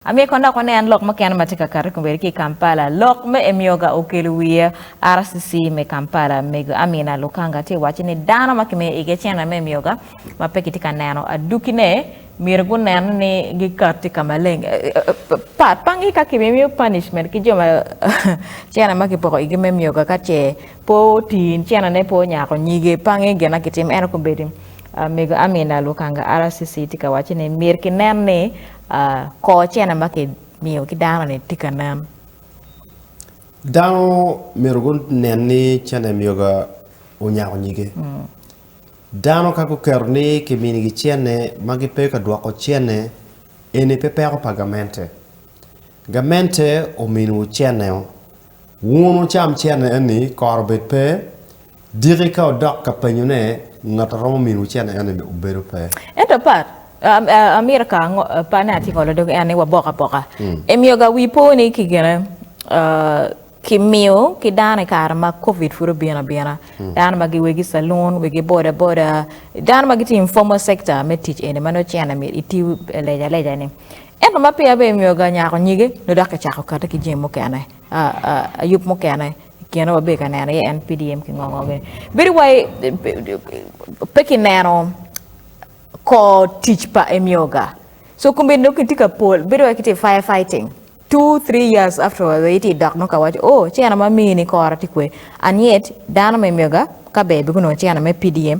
Amyero kono dok wanen lok mukene ma tye ka kato i kombeddi ki i Kampala. Lok me Emyoga okelo wiye. RCC me Kampala, Mego Amina Lukanga tye waco ni dano ma kimiyo igi cene me Emyoga ma pe kitye ka neno adukine, myero gunen ni gikatti ka maleng. Pat panggi ka kibimiyo punishment ki jo ma cene ma kipoko igi me Emyoga ka ce pe otii, cenene pe onyako nyige. Panggi gin ma kitimo. Ento kombeddi, Mego Amina Lukanga, RCC, tye ka waco ni myero kinen ni, Kor cene ma kimiyo ki dano-ni tye ka nen. Dano myero gunen ni cene myega onyako nyige. Dano ka guketo ni kiminigi cene ma gipe ka dwoko cene, eni pe peko pa gamente. Gamente ominiwu ceneo. Wun wucam cene eni, kor obed pe, diki ka wudok ka penyo ne, ngat a romo miniwu cene eni ni obedo pe. Ento pat, amito ka ango, pat ne atye ka olo dog en ni wabok aboka. Imiyo ga wi po ni ki gine, ki miyo ki dano i kare ma covid pud obino abina, dano ma gi wegi salun, wegi boda boda, dano ma gitye informal sector me tic eni ma nongo cene mit itiyo leja leja ni. Ento ma peya bene myero ga nyako nyige nyo dok kicako kati ki jami mukene, yub mukene i kine wabedo ka neno iye en PDM ki ngo ngo gini. Bedo wai pe ki neno kor tic pa Emyoga. So kombeddi dong kitye ka pol, bedo wai kitye fire fighting. Two, three years afterward wai itye dok dong ka waco oh cena ma amini kora tye kwe. And yet dano ma Emyoga ka ber be gunongo cena me PDM.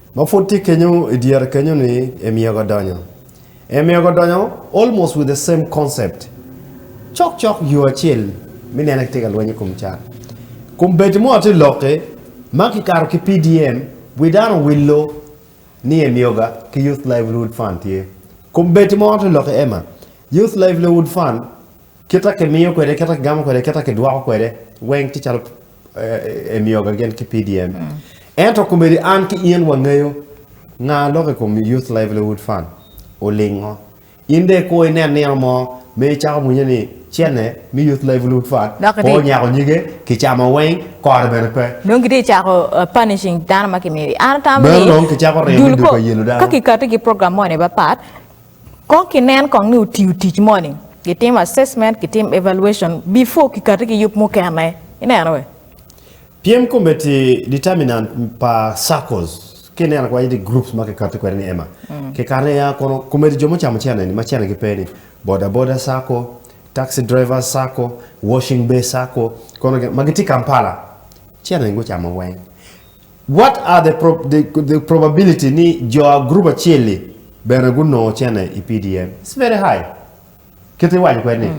Ma pud tye kenyo i dyere kenyo ni e myego adonyo. E myego adonyo almost with the same concept. Cok cok yo acel mi nene ki tye ka lweny i kom cat. Kom bedi mo atye lokke ma ki kato ki PDM wi dano willo ni e myoga ki Youth Livelihood Fund tye. Kom bedi mo atye lokke Emma. Youth Livelihood Fund Kit ma kimiyo kwede, kit ma kigamo kwede, kit ma kidwoko kwede weng tye calo emyoga gin ki PDM. Ento komedi an ki in wangeyo nga lok i kom Youth Livelihood Fund olingo. In dong ikur inen nino mo ma icako mwinyo ni cene me Youth Livelihood Fund pe onyako nyige, kicamo weng, kore bene pe. Dong kitye cako punishing dano ma kimiyogi. An atamo ni dul kong ka kikati ki program moni mapat, Kong kinen kong ni otiyo tic moni. Gitimo assessment, gitim evaluation before kikati ki yub mukene. Ineno be? Pyem komiti, determinant, pa circles, ki ineno kwai ni groups ma kikati kwede ni ema, kikato iye a kono komiti jo mucamo cene ni ma cene gi pe ni, boda boda circle, taxi drivers circle, washing bay circle, kono gin ma gitye Kampala cene ni gucamo weng. What are the pro the, the probability ni jo a group acel-li bene gunongo cene i PDM? It's very high. Kit iwaco kwede ni,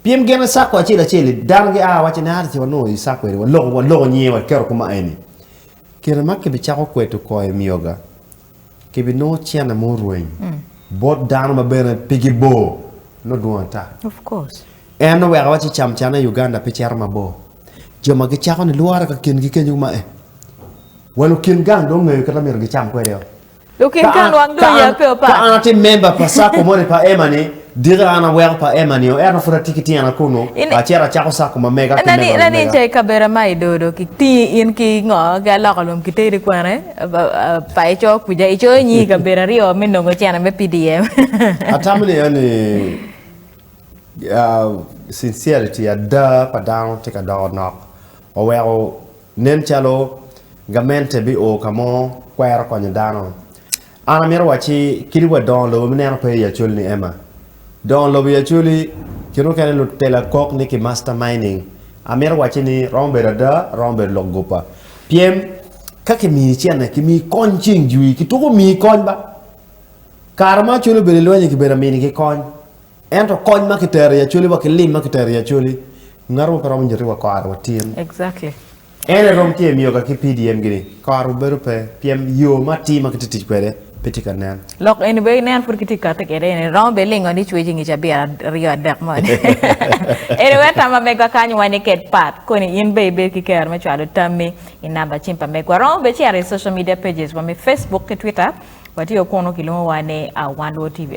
pien gin i sacco acel acel-li, dano gia waco ni ata ce wanongo i sacco eni, waloko, waloko nyinge waketo kuma eni. Kine ma kibicako kweto koi myoga. Kibinongo cene ma orweny bot dano ma bene pigi bor nongo dwong ata. En nongo weko waci cam cene i Uganda pe cito mabor. Jo ma gicako ni lwore ka kingi kenyo kuma eh, wa lukin gang dong ongeyo kit ma myero gicam kwede-o. Ka an atye member pa sacco moni pa Emma-ni, Dika an aweko pa Emma nio ento pud atye ki tyena kunu, acito acako cako ma mega ki mego na mega. Nica i kabera ma i dodo ki tingi in ki ngo ki aloko lum ki teri kwene pa i coo kuja i coo inyi i kabera aryo me nongo cene me PDM. Atamo ni eni sincerity ada pa dano tye ka doko nok oweko nen calo gamente bi o kamo kwero konyo dano An amito wacci kadi wa dongo lobo me neno pe i Acholi ni Emma. Dongo lobo i Acholi kit mukene nut tela kok ni ki master mining. Amito wacci ni romo bedo ada, romo bedo lok gupa. Pyem, ka ki mii cene, ki mii kony ceng jwii, ki tuko mii kony ba. Kare ma Acholi obedo i lwenyi ki bedo amini ki kony. Ento kony ma ki tero i Acholi wa ki lim ma ki tero i Acholi, ngato mo pe romo nyoti wa kore wa tin. Exactly. En aye rom tye miyo ka ki PDM gini koro bedo pe pien yo ma atir ma kitye tic kwede pe tye ka nen. Lok eni be inen pud kitye kati kwede eni romo be lingo ni cwec inge cabit aryo adek moni anyway tam pa megwa kany wa ni ked part koni in be ibed ki kero me cwalo tammi i number cim pa megwa romo be cito i social media pages wa me Facebook ki Twitter watye kunu kilwongo wa ni Awandwo TV.